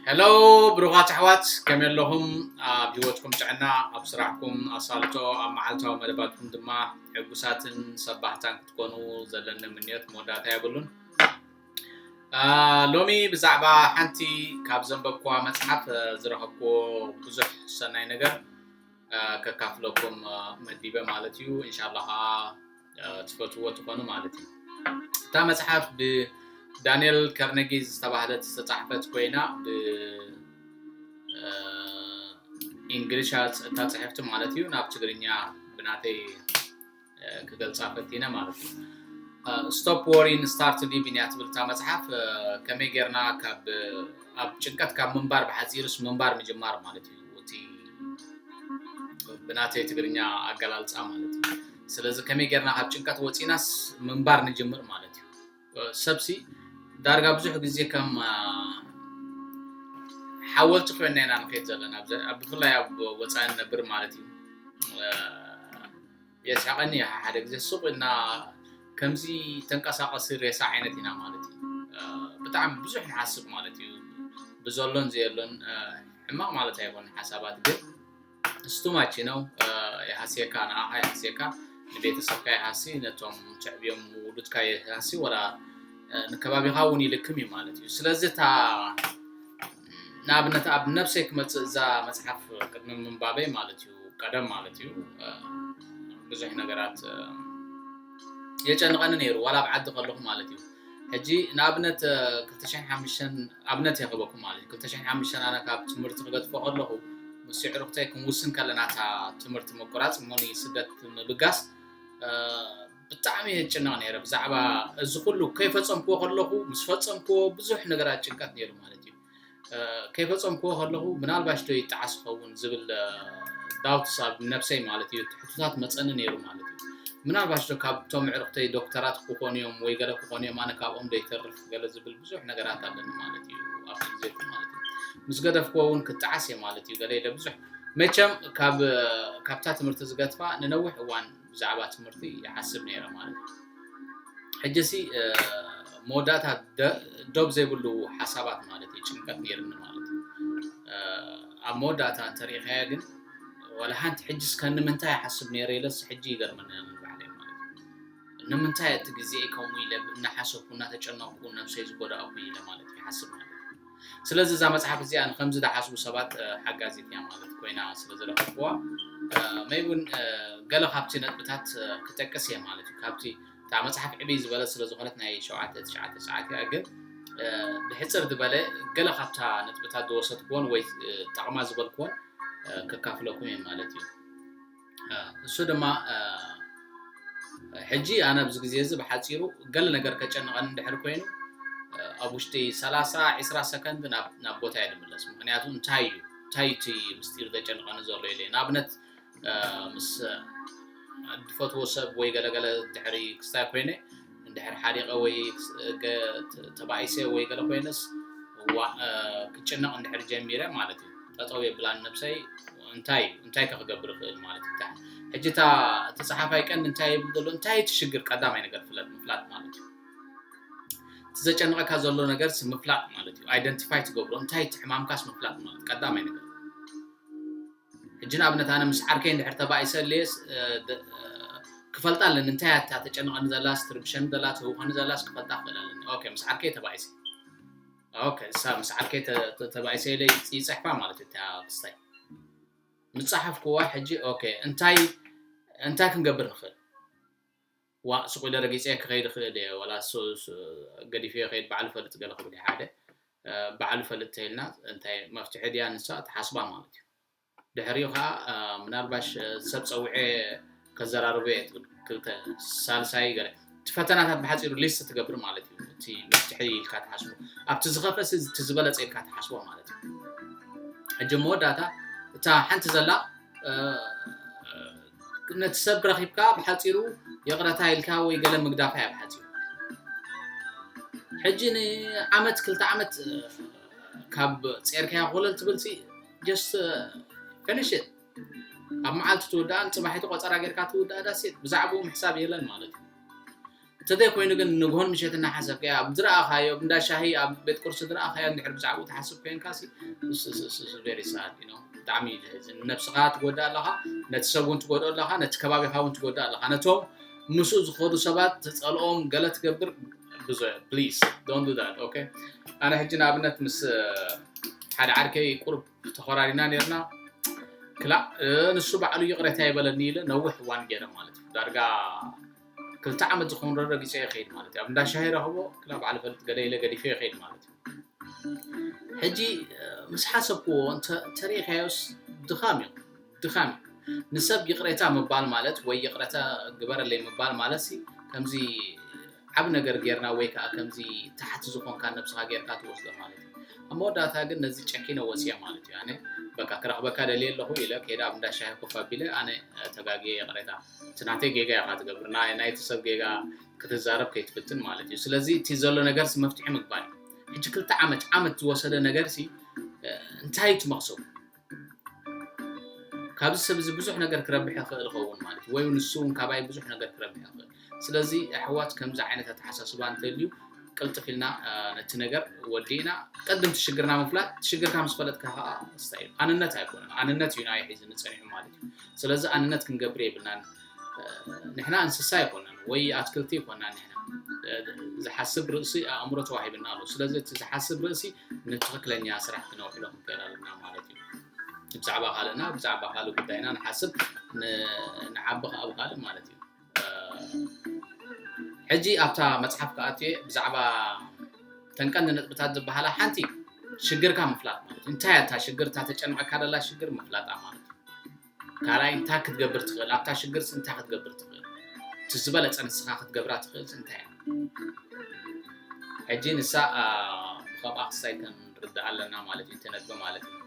ሄሎ ብሩኻት ኣሕዋት ከመይ ኣለኹም ኣብ ሂወትኩም ጥዕና ኣብ ስራሕኩም ኣሳልጦ ኣብ መዓልታዊ መደባትኩም ድማ ሕጉሳትን ሰባህታን ክትኮኑ ዘለኒ ምንዮት መወዳእታ የብሉን ሎሚ ብዛዕባ ሓንቲ ካብ ዘንበብኩዋ መፅሓፍ ዝረኸብኩዎ ብዙሕ ሰናይ ነገር ከካፍለኩም መዲበ ማለት እዩ እንሻላ ከዓ ትፈትዎ ትኾኑ ማለት እዩ እታ መፅሓፍ ብዳንኤል ከርነጊ ዝተባህለት ዝተፃሕፈት ኮይና ብእንግሊሻ እታ ፅሕፍቲ ማለት እዩ ናብ ትግርኛ ብናተይ ክገልፃ ፈቲነ ማለት እዩ ስቶፕ ወሪን ስታርት ሊቪን እያ ትብል እታ መፅሓፍ ከመይ ጌርና ካብ ኣብ ጭንቀት ካብ ምንባር ብሓፂሩስ ምንባር ምጅማር ማለት እዩ እቲ ብናተይ ትግርኛ ኣገላልፃ ማለት እዩ ስለዚ ከመይ ጌርና ካብ ጭንቀት ወፂናስ ምንባር ንጅምር ማለት እዩ ሰብሲ ዳርጋ ብዙሕ ግዜ ከም ሓወልቲ ኮይና ኢና ንኸይድ ዘለና ብፍላይ ኣብ ወፃኢ ንነብር ማለት እዩ የስሕቐኒ እዩ ሓደ ግዜ ሱቕ እና ከምዚ ተንቀሳቐሲ ሬሳ ዓይነት ኢና ማለት እዩ ብጣዕሚ ብዙሕ ንሓስብ ማለት እዩ ብዘሎን ዘየሎን ሕማቕ ማለት ኣይኮነ ሓሳባት ግን ስቱማች ነው የሃስየካ ንኣኻ የሃስየካ ንቤተሰብካ የሃሲ ነቶም ትዕብዮም ውሉድካ የሃሲ ወላ ንከባቢኻ እውን ይልክም እዩ ማለት እዩ ስለዚ እታ ንኣብነት ኣብ ነብሰይ ክመፅእ እዛ መፅሓፍ ቅድሚ ምንባበይ ማለት እዩ ቀደም ማለት እዩ ብዙሕ ነገራት የጨንቐኒ ነይሩ ዋላ ኣብ ዓዲ ከለኹ ማለት እዩ ሕጂ ንኣብነት ክልተ ሽሕን ሓሙሽተን ኣብነት እየ ክህበኩም ማለት እዩ ክልተ ሽሕን ሓሙሽተን ኣነ ካብ ትምህርቲ ክገድፎ ከለኹ ምስ የዕሩኽተይ ክንውስን ከለና እታ ትምህርቲ ምቁራፅ እሞ ስደት ምብጋስ ብጣዕሚ እየ ጭነቕ ነይረ ብዛዕባ እዚ ኩሉ ከይፈፀምክዎ ከለኹ ምስ ፈፀምክዎ ብዙሕ ነገራት ጭንቀት ነይሩ ማለት እዩ ከይፈጸምክዎ ከለኹ ምናልባሽ ዶ ይጠዓስ ይኸውን ዝብል ዳውትስ ኣብ ነብሰይ ማለት እዩ ትሕቱታት መጸኒ ነይሩ ማለት እዩ ምናልባሽ ዶ ካብቶም ዕርኽተይ ዶክተራት ክኾኑ እዮም ወይ ገለ ክኾኑ እዮም ኣነ ካብኦም ዶ ይተርፍ ገለ ዝብል ብዙሕ ነገራት ኣለኒ ማለት እዩ ኣብቲ ግዜ ማለት እዩ ምስ ገደፍክዎ እውን ክጠዓስ እየ ማለት እዩ ገለ ኢለ ብዙሕ መቸም ካብ ካብታ ትምህርቲ ዝገትፋ ንነዊሕ እዋን ብዛዕባ ትምህርቲ ይሓስብ ነይረ ማለት እዩ ሕጂ ሲ መወዳእታ ዶብ ዘይብሉ ሓሳባት ማለት እዩ ጭንቀት ነይርኒ ማለት እዩ ኣብ መወዳእታ እንተሪኢኻያ ግን ዋላ ሓንቲ ሕጂ እስከ ንምንታይ ይሓስብ ነይረ ኢለስ ሕጂ ይገርመኒ ንባዕለይ ማለት እዩ ንምንታይ እቲ ግዜ ከምኡ ኢለ እናሓሰብኩ እናተጨነቕኩ ነብሰይ ዝጎዳእኩ ኢለ ማለት ይሓስብ ማለት እዩ ስለዚ እዛ መጽሓፍ እዚኣ ንከምዚ ዝሓስቡ ሰባት ሓጋዚት እያ ማለት ኮይና ስለ ዝረኸብኩዋ መይ እውን ገለ ካብቲ ነጥብታት ክጠቅስ እየ ማለት እዩ ካብቲ እታ መጽሓፍ ዕብይ ዝበለት ስለ ዝኾነት ናይ ሸውዓተ ትሽዓተ ሰዓት እያ ግን ብሕፅር ዝበለ ገለ ካብታ ነጥብታት ዝወሰድኩዎን ወይ ጠቕማ ዝበልኩዎን ከካፍለኩም እየ ማለት እዩ እሱ ድማ ሕጂ ኣነ ኣብዚ ግዜ እዚ ብሓጺሩ ገለ ነገር ከጨንቐኒ እንድሕር ኮይኑ ኣብ ውሽጢ ሰላሳ ዕስራ ሰከንድ ናብ ቦታ እየ ድምለስ ምክንያቱ እንታይ እዩ እንታይ እቲ ምስጢር ዘጨንቐኒ ዘሎ ኢለ ንኣብነት ምስ ድፈትዎ ሰብ ወይ ገለገለ ድሕሪ ክስታይ ኮይነ እንድሕር ሓሪቐ ወይ ተባኢሰ ወይ ገለ ኮይነስ ክጭነቕ እንድሕር ጀሚረ ማለት እዩ ጠጠው የብላን ነብሰይ እንታይ እንታይ ከ ክገብር ይኽእል ማለት እዩ ሕጂ እታ እቲ ፀሓፋይ ቀንዲ እንታይ ይብል ዘሎ እንታይ እቲ ሽግር ቀዳማይ ነገር ፍለጥ ምፍላጥ ማለት እዩ እቲ ዘጨንቐካ ዘሎ ነገርስ ምፍላጥ ማለት እዩ ኣይደንቲፋይ ትገብሮ እንታይ እቲ ሕማምካስ ምፍላጥ ማለት ቀዳማይ ነገር ሕጂ ንኣብነት ኣነ ምስ ዓርከይ እንድሕር ተባኢሰ እለየስ ክፈልጣ ኣለኒ እንታይ እያ እታ ተጨንቐኒ ዘላስ ትርብሸኒ ዘላ ትህውኸኒ ዘላስ ክፈልጣ ክኽእል ኣለኒ ኦኬ ምስ ዓርከይ ተባኢሰ ኦኬ እሳ ምስ ዓርከይ ተባኢሰ ኢለ ይፅሕፋ ማለት እዩ እታ ክስታይ ምፀሓፍኩዋ ሕጂ ኦኬ እንታይ እንታይ ክንገብር ንኽእል ዋእ ሱቕ ኢለ ረጊጸ ክኸይድ እኽእል እየ ዋላስ ገዲፈዮ ክኸይድ ባዕሉ ይፈልጥ ገለ ክብል እየ ሓደ ባዕሉ ይፈልጥ ተይልና እንታይ መፍትሒ ድያ ንሳ ትሓስባ ማለት እዩ ድሕሪኡ ከዓ ምናልባሽ ሰብ ፀዊዐ ከዘራርቦ እየ ትብል ክልተ ሳልሳይ ገለ እቲ ፈተናታት ብሓፂሩ ሊስት ትገብር ማለት እዩ እቲ መፍትሒ ኢልካ ትሓስቦ ኣብቲ ዝኸፈስ እቲ ዝበለፀ ኢልካ ትሓስቦ ማለት እዩ ሕጂ መወዳእታ እታ ሓንቲ ዘላ ነቲ ሰብ ረኺብካ ብሓጺሩ ይቕረታ ኢልካ ወይ ገለ ምግዳፋ እያ ብሓጺሩ ሕጂ ንዓመት ክልተ ዓመት ካብ ጼርካያ ኮለል ትብልሲ ጀስት ፊኒሽ ኣብ መዓልቲ ትውዳእን ፅባሒቲ ቆፀራ ጌርካ ትውዳእ ዳሴት ብዛዕባኡ ምሕሳብ የለን ማለት እዩ እተዘይኮይኑ ግን ንግሆን ምሸትን እናሓሰብካያ ኣብ ዝረኣኻዮ ኣብ እንዳ ሻሂ ኣብ ቤት ቁርሲ ዝረኣኻዮ እንድሕር ብዛዕብኡ ትሓስብ ኮንካሲ ቬሪ ሳድ ዩ ኖ ብጣዕሚ እዩ ዘሕዝን ንነብስኻ ትጎድእ ኣለኻ ነቲ ሰብ እውን ትጎድኦ ኣለኻ ነቲ ከባቢኻ እውን ትጎድእ ኣለኻ ነቶም ምስኡ ዝኸዱ ሰባት ትፀልኦም ገለ ትገብር ብዙ ፕሊዝ ዶን ዱ ዳት ኦኬ ኣነ ሕጂ ንኣብነት ምስ ሓደ ዓርከይ ቁርብ ተኾራሪና ነርና ክላእ ንሱ ባዕሉ ይቕሬታ ይበለኒ ኢለ ነዊሕ እዋን ገይረ ማለት እዩ ዳርጋ ክልተ ዓመት ዝኸውን ረጊፀ ይኸይድ ማለት እዩ ኣብ እንዳ ሻሂ ረኽቦ ክላ በዓል ፈልጥ ገለ ኢለ ገዲፈ ይኸይድ ማለት እዩ ሕጂ ምስ ሓሰብክዎ እንተሪኢካዮስ ድኻም እዩ ድኻም እዩ ንሰብ ይቕሬታ ምባል ማለት ወይ ይቕረታ ግበረለይ ምባል ማለት ሲ ከምዚ ዓብ ነገር ጌርና ወይ ከዓ ከምዚ ታሕቲ ዝኾንካ ነብስኻ ጌርካ ትወስዶ ማለት እዩ ኣብ መወዳእታ ግን ነዚ ጨኪነ ወፅየ ማለት እዩ ኣነ በቃ ክረኽበካ ደልየ ኣለኹ ኢለ ከይዳ ኣብ እንዳ ሻሂ ኮፍ ኣቢለ ኣነ ተጋግየ ይቕሬታ እቲ ናተይ ጌጋ ኢኻ ትገብር ናይ ናይቲ ሰብ ጌጋ ክትዛረብ ከይትፍትን ማለት እዩ ስለዚ እቲ ዘሎ ነገርሲ መፍትሒ ምግባር እዩ ሕጂ ክልተ ዓመት ዓመት ዝወሰደ ነገርሲ እንታይ እቲ መኽሰቡ ካብዚ ሰብ እዚ ብዙሕ ነገር ክረብሕ ይኽእል ይኸውን ማለት እዩ ወይ እውን ንሱ እውን ካባይ ብዙሕ ነገር ክረብሕ ይኽእል ስለዚ ኣሕዋት ከምዚ ዓይነት ኣተሓሳስባ እንተልዩ ቅልጥፍ ኢልና ነቲ ነገር ወዲእና ቅድም ትሽግርና ምፍላጥ ትሽግርካ ምስ ፈለጥካ ከዓ ስታይ ኣንነት ኣይኮነን ኣንነት እዩ ናይ ሒዚ ንፀኒሑ ማለት እዩ ስለዚ ኣንነት ክንገብር የብልናን ንሕና እንስሳ ኣይኮናን ወይ ኣትክልቲ ይኮናን ንሕና ዝሓስብ ርእሲ ኣእምሮ ተዋሂብና ኣሎ ስለዚ እቲ ዝሓስብ ርእሲ ንትኽክለኛ ስራሕ ክነውዕሎ ክንክእል ኣለና ማለት እዩ ብዛዕባ ካልእና ብዛዕባ ካልእ ጉዳይና ንሓስብ ንዓቢ ከዓ ብካልእ ማለት እዩ ሕጂ ኣብታ መጽሓፍ ክኣትየ ብዛዕባ ተን ቀንዲ ነጥብታት ዝበሃላ ሓንቲ ሽግርካ ምፍላጥ ማለት እዩ እንታይ እታ ሽግር እታ ተጨንቐካ ደላ ሽግር ምፍላጣ ማለት እዩ ካልኣይ እንታይ ክትገብር ትኽእል ኣብታ ሽግር እንታይ ክትገብር ትኽእል እቲ ዝበለፀ ንስኻ ክትገብራ ትኽእል እንታይ እያ ሕጂ ንሳ ብከምኣ ክሳይ ክንርዳእ ኣለና ማለት እዩ እቲ ነጥቢ ማለት እዩ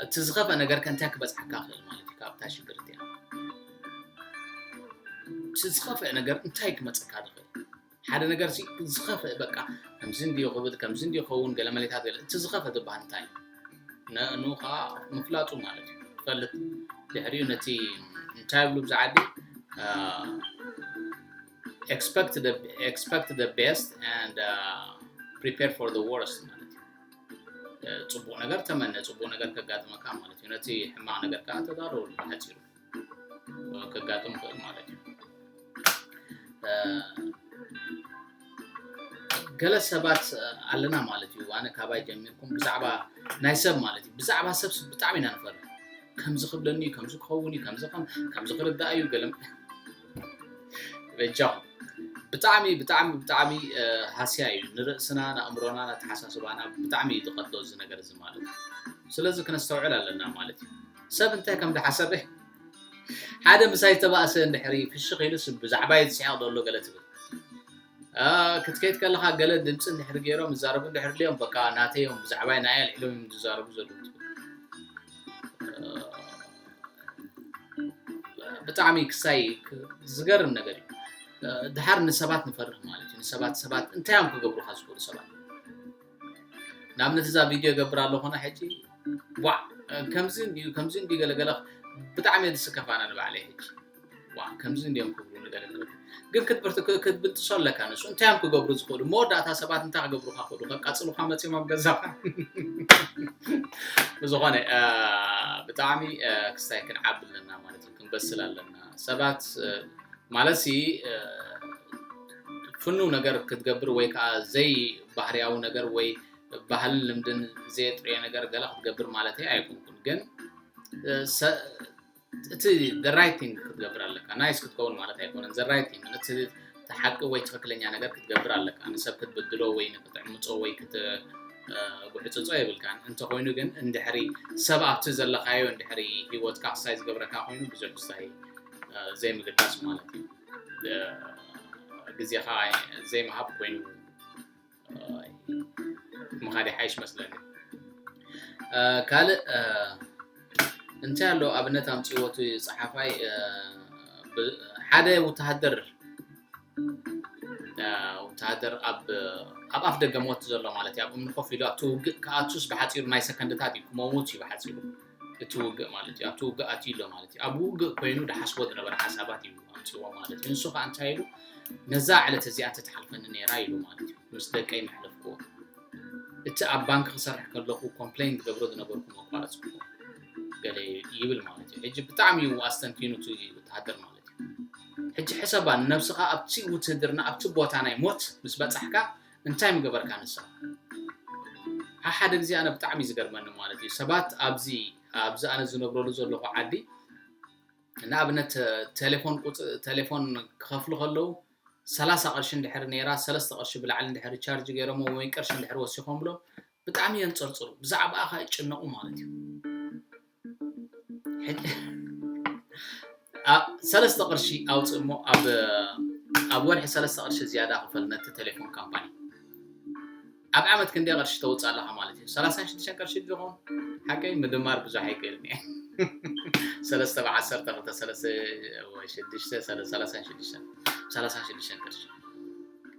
እቲ ዝኸፍኣ ነገር ከ እንታይ ክበጽሓካ ክእል ማለት እዩ ካብታ ሽግር እቲኣ እቲ ዝኸፍአ ነገር እንታይ ክመጽካ ዝኽእል ሓደ ነገር ሲ ዝኸፍእ በቃ ከምዚ እንድዮ ክብል ከምዚ እንድዮ ኸውን ገለ መሌታት ገለ እቲ ዝኸፈ ዝበሃል እንታይ እዩ ንእኑ ከዓ ምፍላጡ ማለት እዩ ትፈልጥ ድሕሪኡ ነቲ እንታይ ብሉ ብዛ ዓዲ ኤክስፐክት ኤክስፐክት ቤስት ፕሪፔር ፎር ወርስት ማለት እዩ ፅቡቕ ነገር ተመነ ፅቡቕ ነገር ከጋጥመካ ማለት እዩ ነቲ ሕማቕ ነገር ከዓ ተዳለወሉ ብሓፂሩ ከጋጥም ክእል ማለት እዩ ገለ ሰባት ኣለና ማለት እዩ ኣነ ካባይ ጀሚርኩም ብዛዕባ ናይ ሰብ ማለት እዩ ብዛዕባ ሰብ ብጣዕሚ ኢና ንፈር ከምዚ ክብለኒ ከምዚ ክኸውን እዩ ከምዚ ከምዚ ክርዳእ እዩ ገለ በጃኹም ብጣዕሚ ብጣዕሚ ብጣዕሚ ሃስያ እዩ ንርእስና ንኣእምሮና ኣተሓሳስባና ብጣዕሚ እዩ ዝቐትሎ እዚ ነገር እዚ ማለት እዩ ስለዚ ክነስተውዕል ኣለና ማለት እዩ ሰብ እንታይ ከም ዝሓሰበ ሓደ ምሳይ ተባእሰ እንድሕሪ ፍሽኽ ኢሉስ ብዛዕባ እዩ ዝስሕቕ ዘሎ ገለ ትብል ክትከይድ ከለኻ ገለ ድምፂ እንድሕሪ ገይሮም ይዛረቡ እንድሕሪ ልዮም በቃ ናተዮም ብዛዕባይ ንኣይ ኣልዒሎም እዮም ዝዛረቡ ዘለዉ ብጣዕሚ ክሳይ ዝገርም ነገር እዩ ድሓር ንሰባት ንፈርህ ማለት እዩ ንሰባት ሰባት እንታይ እዮም ክገብሩካ ዝኽእሉ ሰባት ንኣብነት እዛ ቪድዮ ገብር ኣለኹና ሕጂ ዋዕ ከምዚ እንድዩ ከምዚ እንድዩ ገለገለ ብጣዕሚ እየ ዝስከፍ ኣነ ንባዕለይ ሕጂ ዋእ ከምዚ እንድዮም ክብሉ ንገለ ንገለ ግን ክትብርቲ ክትብጥሶ ኣለካ ንሱ እንታይ እዮም ክገብሩ ዝኽእሉ መወዳእታ ሰባት እንታይ ክገብሩካ ክእሉ ከቃጽሉካ መጺኦም ኣብ ገዛኻ ብዝኾነ ብጣዕሚ ክስታይ ክንዓቢ ኣለና ማለት እዩ ክንበስል ኣለና ሰባት ማለት ሲ ፍኑው ነገር ክትገብር ወይ ከዓ ዘይ ባህርያዊ ነገር ወይ ባህልን ልምድን ዘየጥርየ ነገር ገለ ክትገብር ማለት ኣይኮንኩን ግን እቲ the right thing ክትገብር ኣለካ ናይስ ክትከውን ማለት ኣይኮነን the right thing እቲ ሓቂ ወይ ትክክለኛ ነገር ክትገብር ኣለካ ንሰብ ክትብድሎ ወይ ንክትዕምፆ ወይ ክትጉሕፅፆ የብልካን እንተኮይኑ ግን እንድሕሪ ሰብ ኣብቲ ዘለካዮ እንድሕሪ ሂወትካ ክሳይ ዝገብረካ ኮይኑ ብዙሕ ክስታይ ዘይምግዳስ ማለት እዩ ግዜካ ዘይምሃብ ኮይኑ ምኻድ ይሓይሽ መስለኒ ካልእ እንታይ ኣሎ ኣብነት ኣምፅዎቱ ፀሓፋይ ሓደ ውተሃደር ወተሃደር ኣብ ኣፍ ደገ ሞት ዘሎ ማለት እዩ ኣብ እምኒ ኮፍ ኢሉ ኣብቲ ውግእ ክኣቱስ ብሓፂሩ ናይ ሰከንድታት እዩ ክመውት እዩ ብሓፂሩ እቲ ውግእ ማለት እዩ ኣብቲ ውግእ ኣትዩ ኣሎ ማለት እዩ ኣብ ውግእ ኮይኑ ድሓስቦ ዝነበረ ሓሳባት እዩ ኣምፅዎ ማለት እዩ ንሱ ከዓ እንታይ ኢሉ ነዛ ዕለት እዚኣ ተተሓልፈኒ ነይራ ኢሉ ማለት እዩ ምስ ደቀይ መሕለፍክዎ እቲ ኣብ ባንክ ክሰርሕ ከለኩ ኮምፕሌን ዝገብሮ ዝነበርኩ መቋረፅኩ ገለ ይብል ማለት እዩ ሕጂ ብጣዕሚ እዩ ኣስተንቲኑ እቲ ወተሃደር ማለት እዩ ሕጂ ሕሰባ ንነብስካ ኣብቲ ውትህድርና ኣብቲ ቦታ ናይ ሞት ምስ በፃሕካ እንታይ ምገበርካ ንሳ ሓሓደ ግዜ ኣነ ብጣዕሚ እዩ ዝገርመኒ ማለት እዩ ሰባት ኣብዚ ኣብዚ ኣነ ዝነብረሉ ዘለኹ ዓዲ ንኣብነት ቴሌፎን ቴሌፎን ክኸፍሉ ከለዉ ሰላሳ ቅርሺ እንድሕር ነይራ ሰለስተ ቅርሺ ብላዕሊ እንድሕር ቻርጅ ገይሮሞ ወይ ቅርሺ እንድሕር ወሲኾምሎም ብጣዕሚ የንጸርጽሩ ብዛዕባኣ ከኣ ይጭነቑ ማለት እዩ ሰለስተ ቅርሺ ኣውፅእ እሞ ኣብ ወርሒ ሰለስተ ቅርሺ ዝያዳ ክፈል ነቲ ቴሌፎን ካምፓኒ ኣብ ዓመት ክንደይ ቅርሺ ተውፅእ ኣለካ ማለት እዩ ሰላሳ ሽዱሽተ ቅርሺ ዝኸውን ሓቀይ ምድማር ብዙሕ ኣይክእልን እየ ሰለስተ ብዓሰርተ ክልተ ሰለስተ ሽዱሽተ ሰላሳ ሽዱሽተ ሰላሳ ሽዱሽተ ቅርሺ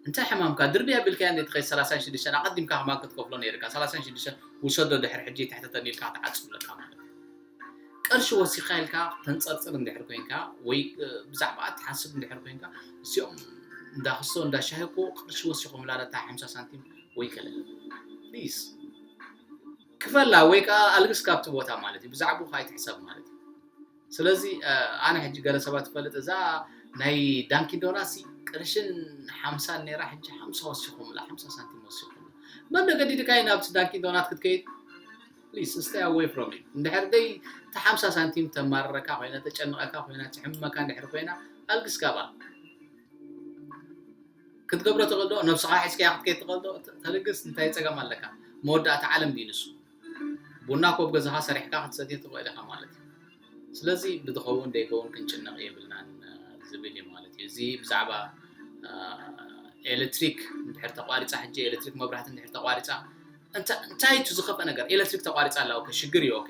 እንታይ ሕማምካ ድርቢ ኣቢልካያ እንዴ ተኸይድ ሰላሳን ሽዱሽተን ኣቀዲምካ ከማን ክትከፍሎ ነይርካ ሰላሳን ሽዱሽተን ውሰዶ ድሕር ሕጂ ኣይትሕተተኒ ኢልካ ክትዓጽ ኣለካ ማለት እዩ ቅርሺ ወሲካ ኢልካ ተንጸርጽር እንድሕር ኮንካ ወይ ብዛዕባ ትሓስብ እንድሕር ኮንካ እዚኦም እንዳ ክሶ እንዳ ሻሂ እኮ ቅርሺ ወሲኮምላ ነታ ሓምሳ ሳንቲም ወይ ከለ ፕሊዝ ክፈላ ወይ ከዓ ኣልግስ ካብቲ ቦታ ማለት እዩ ብዛዕባ ከይትሕሰብ ማለት እዩ ስለዚ ኣነ ሕጂ ገለ ሰባት ይፈልጥ እዛ ናይ ዳንኪን ዶናሲ ቅርሽን ሓምሳን ነይራ ሕጂ ሓምሳ ወሲኹምላ ሓምሳ ሳንቲም ወሲኹምላ መን ገዲድካይ ናብ ዳንኪን ዶናት ክትከይድ ፕሊስ ስታይ ኣወይ ፍሮም ዩ እንድሕር ደይ እቲ ሓምሳ ሳንቲም ተማርረካ ኮይና ተጨንቐካ ኮይና ትሕምመካ እንድሕር ኮይና ኣልግስ ካባ ክትገብሮ ተቐዶ ነብስኻ ሒዝካያ ክትከይ ተቐዶ ተልግስ እንታይ ፀገም ኣለካ መወዳእታ ዓለም ድዩ ንሱ ቡና ኮብ ገዛኻ ሰሪሕካ ክትሰትዮ ትኽእል ኢኻ ማለት እዩ ስለዚ ብዝኸውን ደይከውን ክንጭነቕ የብልናን ዝብል እዩ ማለት እዩ እዚ ብዛዕባ ኤሌክትሪክ ድሕር ተቋሪፃ ሕጂ ኤሌክትሪክ መብራህቲ ድሕር ተቋሪፃ እንታይ እቲ ዝኸፈ ነገር ኤሌክትሪክ ተቋሪፃ ኣላ ኦኬ ሽግር እዩ ኦኬ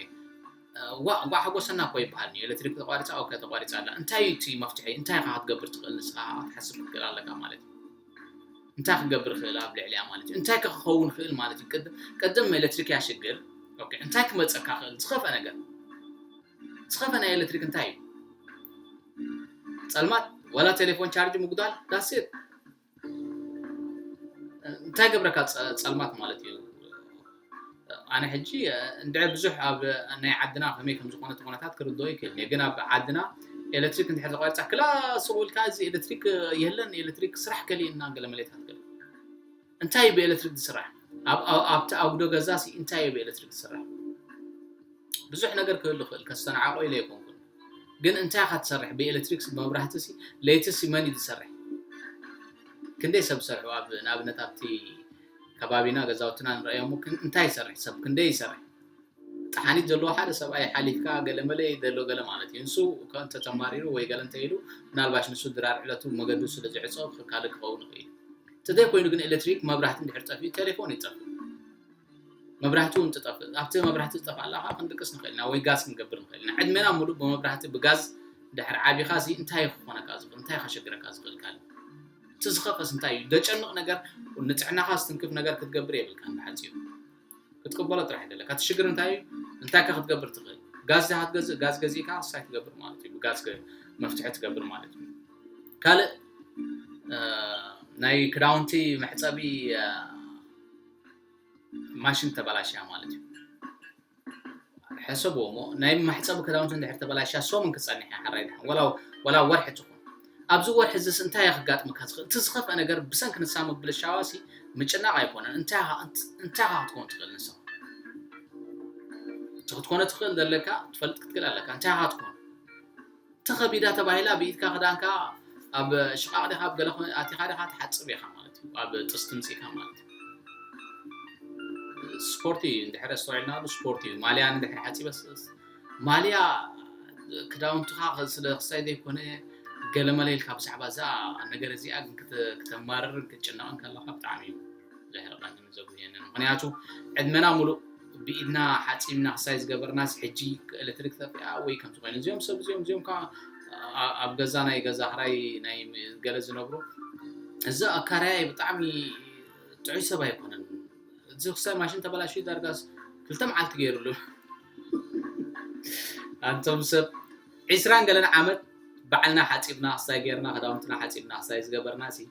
እንኳዕ ሓጎሰና እኮ ይበሃል ኒ ኤሌክትሪክ ተቋሪፃ ኦኬ ተቋሪፃ ኣላ እንታይ እቲ መፍትሒ እንታይ ኢኻ ክትገብር ትኽእል ንስኻ ክትሓስብ ክትክእል ኣለካ ማለት እዩ እንታይ ክገብር ክእል ኣብ ልዕልያ ማለት እዩ እንታይ ክኸውን ክእል ማለት እዩ ቅድም ኤሌክትሪክ እያ ሽግር እንታይ ክመፀካ ክእል ዝኸፈ ነገር ዝኸፈ ናይ ኤሌክትሪክ እንታይ እዩ ፀልማት ወላ ቴሌፎን ቻርጅ ምጉዳል ዳሴት እንታይ ገብረካ ፀልማት ማለት እዩ ኣነ ሕጂ እንድዒ ብዙሕ ኣብ ናይ ዓድና ከመይ ከም ዝኾነ እቲ ኩነታት ክርድኦ ይክእል እየ ግን ኣብ ዓድና ኤሌክትሪክ እንድሕር ተቋሪጻ ክላ ስቕ ኢልካ እዚ ኤሌክትሪክ የለን ኤሌክትሪክ ስራሕ ከሊእና ገለ መሌታት ገለ እንታይ እዩ ብኤሌክትሪክ ዝስራሕ ኣብቲ ኣጉዶ ገዛሲ እንታይ እዩ ብኤሌክትሪክ ዝስራሕ ብዙሕ ነገር ክህሉ ይኽእል ከስተናዓቆ ኢለ ኣይኮንኩን ግን እንታይ ኢኻ ትሰርሕ ብኤሌክትሪክ መብራህቲ ሲ ለይቲ ሲ መን እዩ ዝሰርሕ ክንደይ ሰብ ዝሰርሑ ኣብ ንኣብነት ኣብቲ ከባቢና ገዛውትና ንርእዮሞ ግን እንታይ ይሰርሕ ሰብ ክንደይ ይሰርሕ ጥሓኒት ዘለዎ ሓደ ሰብኣይ ሓሊፍካ ገለመለ ዘሎ ገለ ማለት እዩ ንሱ ከእንተ ተማሪሩ ወይ ገለ እንተ ኢሉ ምናልባሽ ንሱ ድራር ዕለቱ መገዱ ስለ ዝዕጾ ክካል ክኸውን ይኽእል እዩ እንተዘይ ኮይኑ ግን ኤሌክትሪክ መብራህቲ እንድሕር ጠፍኡ ቴሌፎን ይጠፍእ መብራህቲ እውን ትጠፍእ ኣብቲ መብራህቲ ዝጠፍኣላ ከዓ ክንድቅስ ንኽእል ኢና ወይ ጋዝ ክንገብር ንኽእል ኢና ዕድሜና ሙሉእ ብመብራህቲ ብጋዝ ድሕር ዓቢኻ እዚ እንታይ ክኾነካ ዝኽእል እንታይ ከሸግረካ ዝኽእል ካልእ እቲ ዝኸፈስ እንታይ እዩ ደጨንቕ ነገር ንጥዕናኻ ዝትንክፍ ነገር ክትገብር የብልካን ብሓጺሩ ክትቅበሎ ጥራሕ ደለካ እቲ ሽግር እንታይ እዩ እንታይ ከ ክትገብር ትኽእል ጋዝ ድኻ ትገዝእ ጋዝ ገዚእካ ሳይ ትገብር ማለት እዩ ብጋዝ መፍትሒ ትገብር ማለት እዩ ካልእ ናይ ክዳውንቲ መሕፀቢ ማሽን ተበላሽያ ማለት እዩ ሕሰብዎ እሞ ናይ ማሕጸቢ ክዳውንቲ እንድሕር ተበላሽያ ሰሙን ክጸንሕ እያ ሓራይ ድሓን ወላ ወላ ወርሒ ትኹን ኣብዚ ወርሒ እዚስ እንታይ እያ ክጋጥመካ ዝኽእል እቲ ዝኸፍአ ነገር ብሰንኪ ንሳ ምብልሻዋሲ ምጭናቕ ኣይኮነን እንታይ ኢኻ እንት- እንታይ ኢኻ ክትከውን ትኽእል ንሳ እቲ ክትኮነ ትኽእል ዘለካ ትፈልጥ ክትክእል ኣለካ እንታይ ኢኻ ክትኮን ተኸቢዳ ተባሂላ ብኢድካ ክዳንካ ኣብ ሽቓቕ ዲኻ ኣብ ገለ ኣቲኻ ዲኻ ትሓጽብ ኢኻ ማለት እዩ ኣብ ጥስቲ ምጺእካ ማለት እዩ ስፖርት እዩ እንድሕር ኣስተውዒልናሉ ስፖርት እዩ ማልያ እንድሕር ሓፂበስ ማልያ ክዳውንትኻ ስለ ክሳይ ዘይኮነ ገለመለ ኢልካ ብዛዕባ እዛ ነገር እዚኣ ግን ክተማርርን ክትጭነቕን ከለካ ብጣዕሚ እዩ ዘህርቐንን ዘጉህየንን ምኽንያቱ ዕድመና ሙሉእ ብኢድና ሓፂብና ክሳይ ዝገበርናስ ሕጂ ኤሌክትሪክ ተጠፊኣ ወይ ከምዚ ኮይኑ እዚኦም ሰብ እዚኦም እዚኦም ከዓ ኣብ ገዛ ናይ ገዛ ክራይ ናይ ገለ ዝነብሩ እዚ ኣካራያይ ብጣዕሚ ጥዑይ ሰብ ኣይኮነን እዚ ክሳይ ማሽን ተበላሽዩ ዳርጋስ ክልተ መዓልቲ ገይሩሉ ኣንቶም ሰብ ዒስራን ገለን ዓመት ባዕልና ሓፂብና ክሳይ ገይርና ክዳውንትና ሓፂብና ክሳይ ዝገበርና ሲ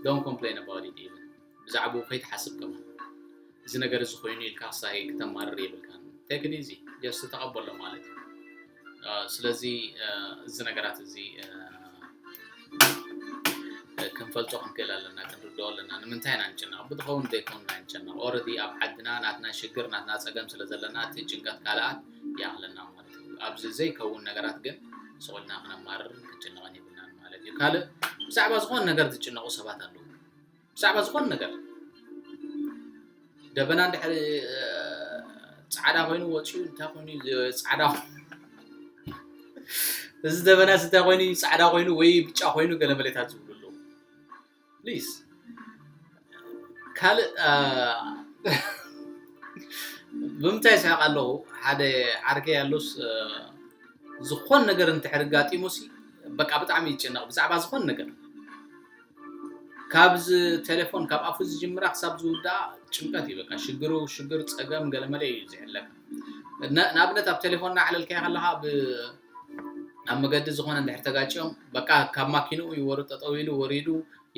Don't complain about it even ብዛዕብኡ ከይትሓስብ ከማን እዚ ነገር እዚ ኮይኑ ኢልካ ሳይ ክተማርር የብልካን ቴክ ኢት ኢዚ ጀስት ተቐበሎ ማለት እዩ ስለዚ እዚ ነገራት እዚ ክንፈልጦ ክንክእል ኣለና ክንርድኦ ኣለና ንምንታይ ኢና ንጭነቕ ብትኸውን ዘይኮኑ ኢና ንጨነቕ ኦረዲ ኣብ ዓድና ናትና ሽግር ናትና ፀገም ስለ ዘለና እቲ ጭንቀት ካልኣት ይኣኽለና ኣብዚ ዘይከውን ነገራት ግን ስቕ ኢልና ክነማርርን ክንጭነቕን የብልናን ማለት እዩ። ካልእ ብዛዕባ ዝኾነ ነገር ዝጭነቑ ሰባት ኣለዉ። ብዛዕባ ዝኾነ ነገር ደበና እንድሕሪ ፃዕዳ ኮይኑ ወፂኡ እንታይ ኮይኑ ፃዕዳ እዚ ደበና እንታይ ኮይኑ ፃዕዳ ኮይኑ ወይ ብጫ ኮይኑ ገለ መሌታት ዝብሉ ኣለዉ። ፕሊስ ካልእ ብምንታይ ይስሕቅ ኣለኹ ሓደ ዓርከይ ኣሎስ ዝኾን ነገር እንድሕር ኣጋጢሙሲ በቃ ብጣዕሚ ይጭነቕ ብዛዕባ ዝኾን ነገር ካብዚ ቴሌፎን ካብ ኣፉ ዝጅምራ ክሳብ ዝውድኣ ጭንቀት እዩ በቃ ሽግሩ ሽግር ፀገም ገለመለ እዩ ዝሕለፍ ንኣብነት ኣብ ቴሌፎን እናዕለልካዮ ከለኻ ኣብ መገዲ ዝኾነ እንድሕር ተጋጭዮም በቃ ካብ ማኪንኡ እዩ ወሩ ጠጠው ኢሉ ወሪዱ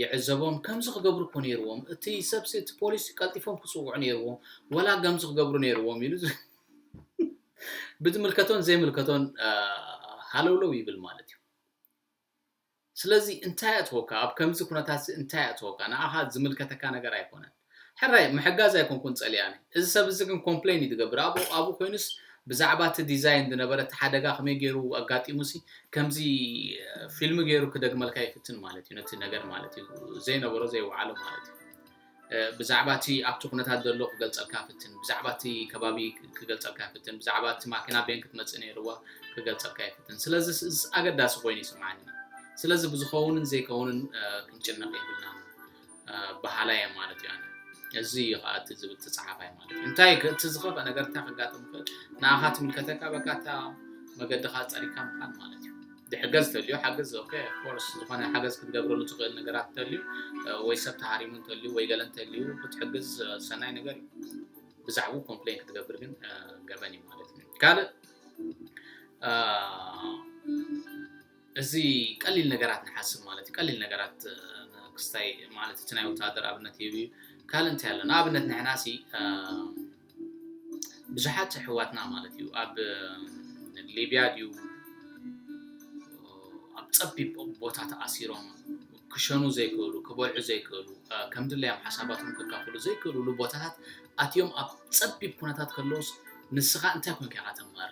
ይዕዘቦም ከምዚ ክገብሩ እኮ ነይርዎም እቲ ሰብሲ እቲ ፖሊስ ቀልጢፎም ክፅውዑ ነይርዎም ወላ ከምዚ ክገብሩ ነይርዎም ኢሉ ብዝምልከቶን ዘይምልከቶን ሃለውለው ይብል ማለት እዩ። ስለዚ እንታይ ኣእተወካ ኣብ ከምዚ ኩነታትዚ እንታይ ኣእተወካ ንኣኻ ዝምልከተካ ነገር ኣይኮነን ሕራይ ምሕጋዝ ኣይኮንኩን ጸሊኣ ነይ እዚ ሰብ እዚ ግን ኮምፕለይን እዩ ዝገብር ኣብኡ ኣብኡ ኮይኑስ ብዛዕባ እቲ ዲዛይን ዝነበረ እቲ ሓደጋ ከመይ ገይሩ ኣጋጢሙሲ ከምዚ ፊልሚ ገይሩ ክደግመልካ ይፍትን ማለት እዩ ነቲ ነገር ማለት እዩ ዘይነበሮ ዘይወዓሎ ማለት እዩ ብዛዕባ እቲ ኣብቲ ኩነታት ዘሎ ክገልጸልካ ይፍትን፣ ብዛዕባ እቲ ከባቢ ክገልጸልካ ይፍትን፣ ብዛዕባ እቲ ማኪና ቤን ክትመጽእ ነይርዋ ክገልጸልካ ይፍትን። ስለዚ እዚ ኣገዳሲ ኮይኑ ይስምዓኒ። ስለዚ ብዝኸውንን ዘይከውንን ክንጭነቕ የብልናን በሃላይ እየ ማለት እዩ ኣነ። እዚ እዩ ከዓ እቲ ዝብል እቲ ፀሓፋይ ማለት እዩ። እንታይ እዩ እቲ ዝኸፍአ ነገር እንታይ ከጋጥም ይኽእል? ንኣኻ ትምልከተካ በቃ እታ መገድኻ ፀሪግካ ምኻድ ማለት እዩ። ዝሕገዝ ተልዩ ሓግዝ ኦከ ኦፍኮርስ ዝኾነ ሓገዝ ክትገብረሉ ትኽእል ነገራት ተልዩ ወይ ሰብ ተሃሪሙ እንተልዩ ወይ ገለ እንተልዩ ክትሕግዝ ሰናይ ነገር እዩ ብዛዕቡ ኮምፕሌን ክትገብር ግን ገበን እዩ ማለት እዩ ካልእ እዚ ቀሊል ነገራት ንሓስብ ማለት እዩ ቀሊል ነገራት ክስታይ ማለት እቲ ናይ ወታሃደር ኣብነት ይህብ እዩ ካልእ እንታይ ኣሎ ንኣብነት ንሕና ሲ ብዙሓት ኣሕዋትና ማለት እዩ ኣብ ሊብያ ድዩ ኣብ ፀቢብ ቦታ ተኣሲሮም ክሸኑ ዘይክእሉ ክበልዑ ዘይክእሉ ከም ድለዮም ሓሳባቶም ከካፍሉ ዘይክእሉሉ ቦታታት ኣትዮም ኣብ ፀቢብ ኩነታት ከለውስ ንስኻ እንታይ ኮንካ ኢኻ ተማር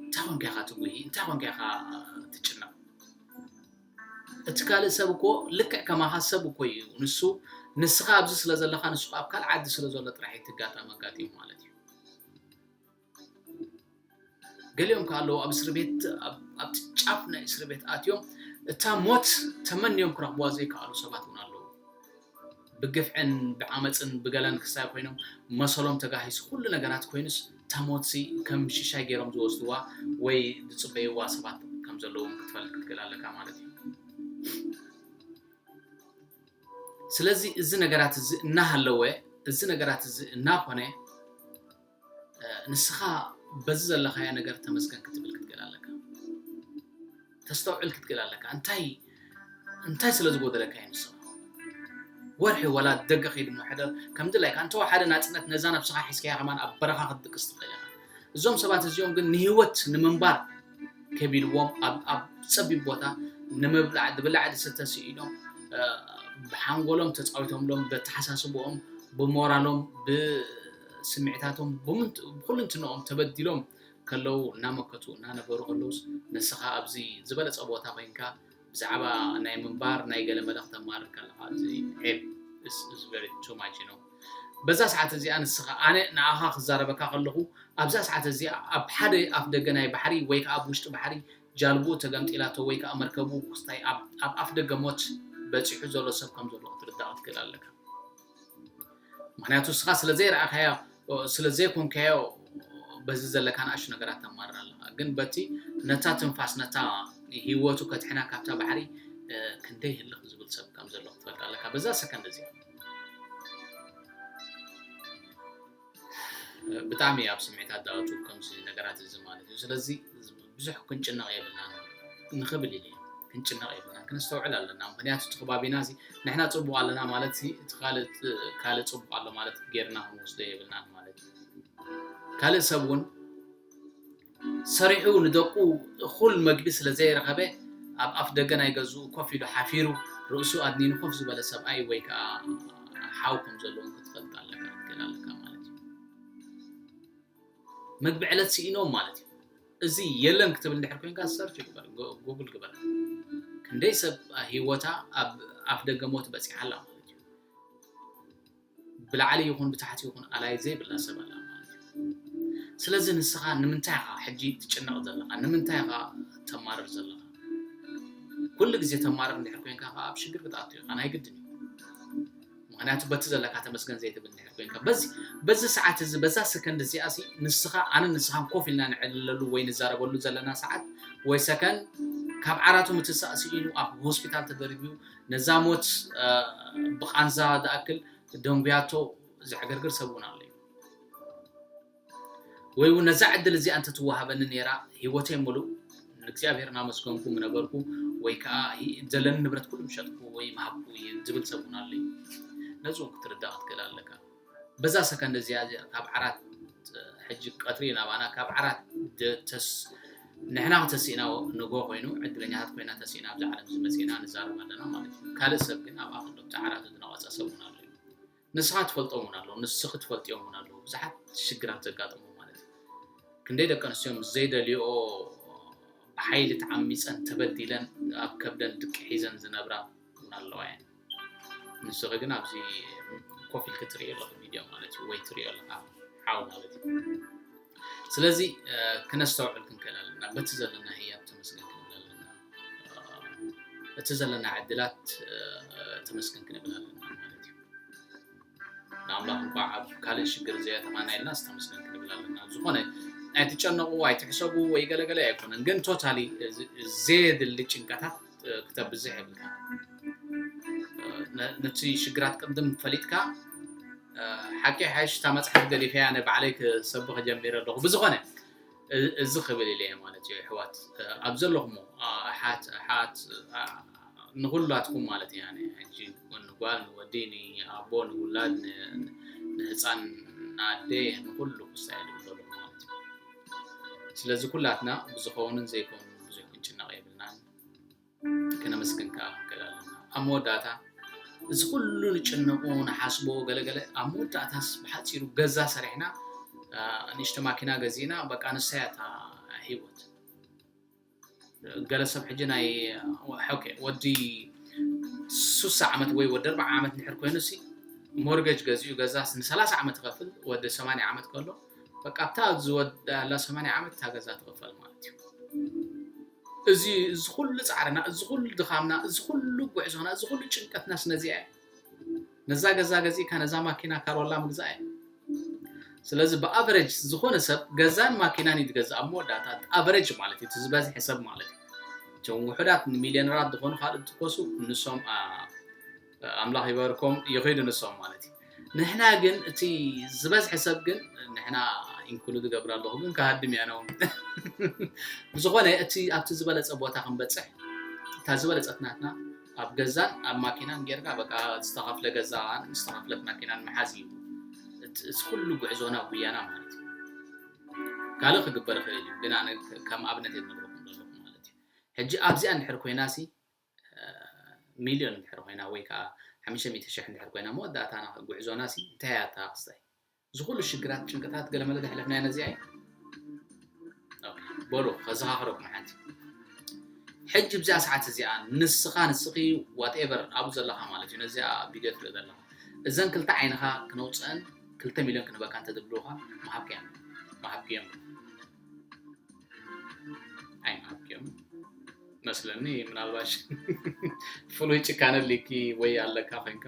እንታይ ኮንካ ኢኻ ትጉሂ እንታይ ኮንካ ኢኻ ትጭነቕ እቲ ካልእ ሰብ እኮ ልክዕ ከማኻ ሰብ እኮ እዩ ንሱ ንስኻ ኣብዚ ስለ ዘለኻ ንሱ ኣብ ካልእ ዓዲ ስለ ዘሎ ጥራሕ እዩ እቲ ኣጋጣሚ ኣጋጢሙ ማለት እዩ ገሊኦም ከ ኣለዉ ኣብ እስሪ ቤት ኣብቲ ጫፍ ናይ እስሪ ቤት ኣትዮም እታ ሞት ተመንዮም ክረኽብዋ ዘይከኣሉ ሰባት እውን ኣለዉ ብግፍዕን ብዓመጽን ብገለን ክሳይ ኮይኖም መሰሎም ተጋሂሱ ኩሉ ነገራት ኮይኑስ እታ ሞትሲ ከም ሽሻይ ገይሮም ዝወስድዋ ወይ ዝጽበይዋ ሰባት ከም ዘለዉ ውን ክትፈልጥ ክትክእል ኣለካ ማለት እዩ። ስለዚ እዚ ነገራት እዚ እናሃለወ እዚ ነገራት እዚ እናኾነ ንስኻ በዚ ዘለኻዮ ነገር ተመስገን ክትብል ክትገል ኣለካ ተስተውዕል ክትገል ኣለካ እንታይ እንታይ ስለ ዝጎደለካ እዩ ንስኻ ወርሒ ወላ ደገ ከይድ እሞ ሕደር ከም ድላይካ እንተወሓደ ናፅነት ነዛ ነብስኻ ሒዝካያ ከማን ኣብ በረኻ ክትድቅስ ትኽእል ኢኻ እዞም ሰባት እዚኦም ግን ንህይወት ንምንባር ከቢልዎም ኣብ ፀቢብ ቦታ ንምብላዕ ድብላዕ ድስተ ስኢኖም ብሓንጎሎም ተፃዊቶምሎም በተሓሳስቦኦም ብሞራሎም ስምዒታቶም ብኩልንትንኦም ተበዲሎም ከለዉ እናመከቱ እናነበሩ ከለዉስ ንስኻ ኣብዚ ዝበለጸ ቦታ ኮይንካ ብዛዕባ ናይ ምንባር ናይ ገለመለ ክተማርር ከለኻ እዚ ዔብ this is very too much you know በዛ ሰዓት እዚኣ ንስኻ ኣነ ንኣኻ ክዛረበካ ከለኹ ኣብዛ ሰዓት እዚኣ ኣብ ሓደ ኣፍ ደገ ናይ ባሕሪ ወይ ከዓ ኣብ ውሽጢ ባሕሪ ጃልብኡ ተገምጢላቶ ወይ ከዓ መርከቡ ክስታይ ኣብ ኣፍ ደገ ሞት በፂሑ ዘሎ ሰብ ከም ዘሎ ክትርዳእ ክትክእል ኣለካ ምክንያቱ እስኻ ስለ ዘይረኣኻዮ ስለ ዘይኮንካዮ በዚ ዘለካ ንኣሽ ነገራት ተማርር ኣለኻ ግን በቲ ነታ ትንፋስ ነታ ሂወቱ ከትሕና ካብታ ባሕሪ ክንደይ ህልኽ ዝብል ሰብ ከም ዘሎ ክትፈልጥ ኣለካ በዛ ሰከንድ እዚኣ ብጣዕሚ ኣብ ስምዒት ኣዳዋቱ ከምዚ ነገራት እዚ ማለት እዩ ስለዚ ብዙሕ ክንጭነቕ የብልናን ንኽብል ኢለ ክንጭነቕ የብልናን ክነስተውዕል ኣለና ምክንያቱ እቲ ከባቢና እዚ ንሕና ፅቡቕ ኣለና ማለት እቲ ካልእ ፅቡቕ ኣሎ ማለት ጌርና ክንወስዶ የብልናን ማለት እዩ ካልእ ሰብ እውን ሰሪሑ ንደቁ እኹል መግቢ ስለ ዘየርኸበ ኣብ ኣፍ ደገ ናይ ገዝኡ ኮፍ ኢሉ ሓፊሩ ርእሱ ኣድኒኑ ኮፍ ዝበለ ሰብኣይ ወይ ከኣ ሓው ከም ዘሎ ውን ክትፈልጥ ኣለካ ክትክእል ኣለካ ማለት እዩ። መግቢ ዕለት ስኢኖም ማለት እዩ። እዚ የለን ክትብል እንድሕር ኮንካ ሰርች ግበር ጉግል ግበር ክንደይ ሰብ ሂወታ ኣብ ኣፍ ደገ ሞት በጺሓ ኣላ ማለት እዩ። ብላዕሊ ይኹን ብታሕቲ ይኹን ኣላዪ ዘይብላ ሰብ ኣላ ማለት እዩ። ስለዚ ንስኻ ንምንታይ ኢኻ ሕጂ ትጭነቕ ዘለኻ? ንምንታይ ኢኻ ተማርር ዘለኻ? ኩሉ ግዜ ተማርር እንድሕር ኮንካ ከኣ ኣብ ሽግር ክትኣቱ ኢኻ ናይ ግድን እዩ። ምክንያቱ በቲ ዘለካ ተመስገን ዘይትብል እንድሕር ኮንካ በዚ በዚ ሰዓት እዚ በዛ ሰከንድ እዚኣ ሲ ንስኻ ኣነ ንስኻን ኮፍ ኢልና ንዕልለሉ ወይ ንዛረበሉ ዘለና ሰዓት ወይ ሰከንድ ካብ ዓራቱ ምትሳእ ስኢኑ ኣብ ሆስፒታል ተደርብዩ ነዛ ሞት ብቃንዛ ዝኣክል ደንጉያቶ ዘዕገርግር ሰብ እውን ኣሎ እዩ ወይ እውን ነዛ ዕድል እዚኣ እንተትወሃበኒ ነይራ ህይወተይ ሙሉእ ንእግዚኣብሔር እናመስገንኩ ምነበርኩ ወይ ከዓ ዘለኒ ንብረት ኩሉ ምሸጥኩ ወይ ምሃብኩ ዝብል ሰብ እውን ኣሎ እዩ ነዚ እውን ክትርዳእ ክትክእል ኣለካ በዛ ሰከንድ እዚኣ እዚኣ ካብ ዓራት ሕጂ ቀትሪ ናባና ካብ ዓራት ተስ ንሕና ተሲእና ንጎ ኮይኑ ዕድለኛታት ኮይና ተሲእና ኣብዚ ዓለም ዝመፅና ንዛረብ ኣለና ማለት እዩ ካልእ ሰብ ግን ኣብኣ ከሎ እቲ ዓራት ዝነቐፀ ሰብ እውን ኣሎ እዩ ንስኻ ትፈልጦም እውን ኣለዉ ንስኺ ትፈልጥዮም እውን ኣለዉ ብዙሓት ሽግራት ዘጋጥሙ ማለት እዩ ክንደይ ደቂ ኣንስትዮ ምስ ዘይደልዮ ብሓይሊ ተዓሚፀን ተበዲለን ኣብ ከብደን ድቂ ሒዘን ዝነብራ እውን ኣለዋ እየን ንስኺ ግን ኣብዚ ኮፍ ኢልኪ ትሪኦ ኣለኺ ቪድዮ ማለት እዩ ወይ ትሪኦ ኣለኻ ሓው ማለት እዩ ስለዚ ክነስተውዕል ክንክእል ኣለና በቲ ዘለና ህያብ ተመስገን ክንብል ኣለና እቲ ዘለና ዕድላት ተመስገን ክንብል ኣለና ማለት እዩ ንኣምላኽ እንኳዕ ኣብ ካልእ ሽግር ዘየተማና ኢልና ዝተመስገን ክንብል ኣለና ዝኾነ ኣይትጨነቑ ኣይትሕሰቡ ወይ ገለገለ ኣይኮነን ግን ቶታሊ ዘየድሊ ጭንቀታት ክተብዝሕ የብልካ ነቲ ሽግራት ቅድም ፈሊጥካ ሓቂ ሓሽ እታ መፅሓፍ ገዲፈያ ንባዕለይ ክሰብኽ ጀሚረ ኣለኹ ብዝኾነ እዚ ክብል ኢለ እየ ማለት እዩ ኣሕዋት ኣብ ዘለኹሞ ኣሓት ኣሓት ንኹላትኩም ማለት እያ ሕጂ ንጓል ንወዲ ንኣቦ ንውላድ ንህፃን ንኣደ ንኩሉ ክሳይ ዝብለሉ ማለት እዩ ስለዚ ኩላትና ብዝኸውንን ዘይከውንን ብዙሕ ክንጭነቕ የብልናን ክነመስግን ከኣ ክንክእል ኣለና። ኣብ መወዳእታ እዚ ኩሉ ንጭነቁ ንሓስቦ ገለገለ ኣብ መወዳእታስ ብሓጺሩ ገዛ ሰሪሕና ንእሽተ ማኪና ገዚእና በቃ ንሳያ እታ ህይወት ገለ ሰብ ሕጂ ናይ ኦኬ ወዲ ሱሳ ዓመት ወይ ወዲ ኣርባዓ ዓመት ንድሕር ኮይኑሲ ሞርገጅ ገዚኡ ገዛስ ንሰላሳ ዓመት ይኸፍል ወዲ ሰማንያ ዓመት ከሎ በቃ ኣብታ ዝወዳላ ሰማንያ ዓመት እታ ገዛ ትቕፈል ማለት እዩ እዚ እዚ ኩሉ ጻዕርና እዚ ኩሉ ድኻምና እዚ ኩሉ ጉዕዞና እዚ ኩሉ ጭንቀትናስ ነዚኣ እዩ ነዛ ገዛ ገዚእካ ነዛ ማኪና ካሮላ ምግዛእ እዩ ስለዚ ብኣቨረጅ ዝኾነ ሰብ ገዛን ማኪናን እዩ ዝገዝእ ኣብ መወዳእታ ኣቨረጅ ማለት እዩ እቲ ዝበዝሐ ሰብ ማለት እዩ እቶም ውሑዳት ንሚልዮነራት ዝኾኑ ካልእ ትኮሱ ንሶም ኣምላኽ ይባርኮም ይኺዱ ንሶም ማለት እዩ ንሕና ግን እቲ ዝበዝሐ ሰብ ግን ንሕና ኢንክሉድ ገብር ኣለኹ ግን ክሃድም እያ ነውን ብዝኾነ እቲ ኣብቲ ዝበለፀ ቦታ ክንበፅሕ እታ ዝበለፀት ናትና ኣብ ገዛን ኣብ ማኪናን ጌርካ በቃ ዝተኸፍለ ገዛ ዝተኸፍለት ማኪናን መሓዝ እዩ እቲ ኩሉ ጉዕዞና ጉያና ማለት እዩ ካልእ ክግበር ይኽእል እዩ ግን ኣነ ከም ኣብነት የነግረኩም ዘለኹ ማለት እዩ ሕጂ ኣብዚኣ እንድሕር ኮይና ሲ ሚልዮን እንድሕር ኮይና ወይ ከኣ ሓምሽተ ሚእቲ ሽሕ እንድሕር ኮይና መወዳእታና ጉዕዞና ሲ እንታይ እያ እታ ክስታይ እዚ ኩሉ ሽግራት ጭንቅታት ገለመለ ዘሕለፍናያ ነዚኣ እያ በሉ ከዘኻኽረኩም ሓንቲ ሕጂ ብዚኣ ሰዓት እዚኣ ንስኻ ንስኺ ዋትኤቨር ኣብኡ ዘለኻ ማለት እዩ ነዚኣ ቪድዮ ትርኢ ዘለኻ እዘን ክልተ ዓይንኻ ክነውፅአን ክልተ ሚልዮን ክንበካ እንተድብልውኻ መሃብክዮም መሃብክዮም ኣይናብዮም መስለኒ ምናልባሽ ፍሉይ ጭካነ ሊኪ ወይ ኣለካ ኮይንካ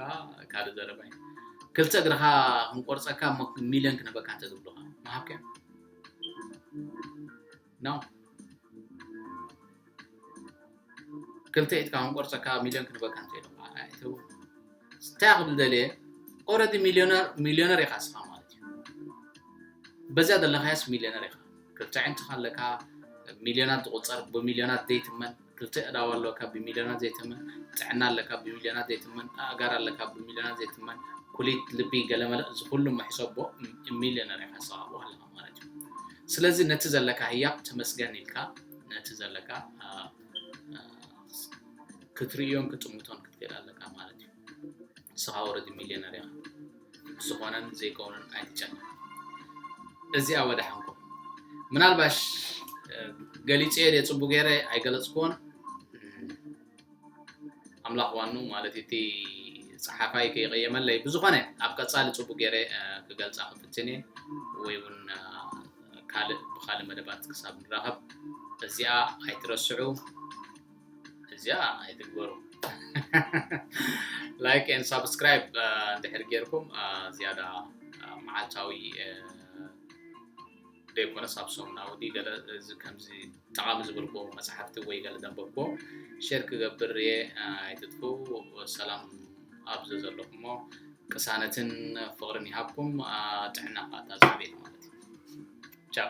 ካልእ ዘረባ እዩ ክልተ እግርኻ ክንቆርፀካ ሚልዮን ክነበካ እንተዝብልኻ መሃብከ ኖ ክልተ ኢድካ ክንቆርፀካ ሚልዮን ክንበካ እንተኢሎም ከዓ ኣይትህቡ እንታይ ክብል ደልየ ኦረዲ ሚልዮነር ሚልዮነር ኢኻ ስኻ ማለት እዩ በዚያ ዘለኻያስ ሚልዮነር ኢኻ ክልተ ዕንትኻ ኣለካ ሚልዮናት ዝቁፀር ብሚልዮናት ዘይትመን ክልተ እዳዋ ኣለካ ብሚልዮናት ዘይትመን ጥዕና ኣለካ ብሚልዮናት ዘይትመን ኣእጋር ኣለካ ብሚልዮናት ዘይትመን ኩሊት ልቢ ገለመለ እዚ ኩሉ መሕሰቦ ሚልዮነር ኢኻ ስኻ ኣለኻ ማለት እዩ ስለዚ ነቲ ዘለካ ህያብ ተመስገን ኢልካ ነቲ ዘለካ ክትርእዮን ክጥምቶን ክትክእል ኣለካ ማለት እዩ ንስኻ ወረዲ ሚልዮነር ኢኻ ዝኾነን ዘይከውንን ኣይትጨነ እዚኣ ወዳሓንኩም ምናልባሽ ገሊፀ ደ ፅቡ ገይረ ኣይገለፅክዎን ኣምላኽ ዋኑ ማለት እቲ ጸሓፋይ ከይቐየመለይ ብዝኾነ ኣብ ቀጻሊ ጽቡቅ ገይረ ክገልጻ ክፍትን እየ ወይ ውን ካልእ ብኻልእ መደባት ክሳብ ንራኸብ እዚኣ ኣይትረስዑ እዚኣ ኣይትግበሩ ላይክ ን ሳብስክራይብ እንድሕር ጌርኩም ዝያዳ መዓልታዊ ደይኮነስ ኣብ ሰሙናዊ ድዩ ገለ እዚ ከምዚ ጠቓሚ ዝበልክዎ መጽሓፍቲ ወይ ገለ ዘንበብክዎ ሼር ክገብር እየ ኣይትጥፍኡ ሰላም ኣብ ዘዘለኹሞ ቅሳነትን ፍቕርን ይሃብኩም ጥዕና ከኣ እታ ዝዓበየት ማለት እዩ ቻው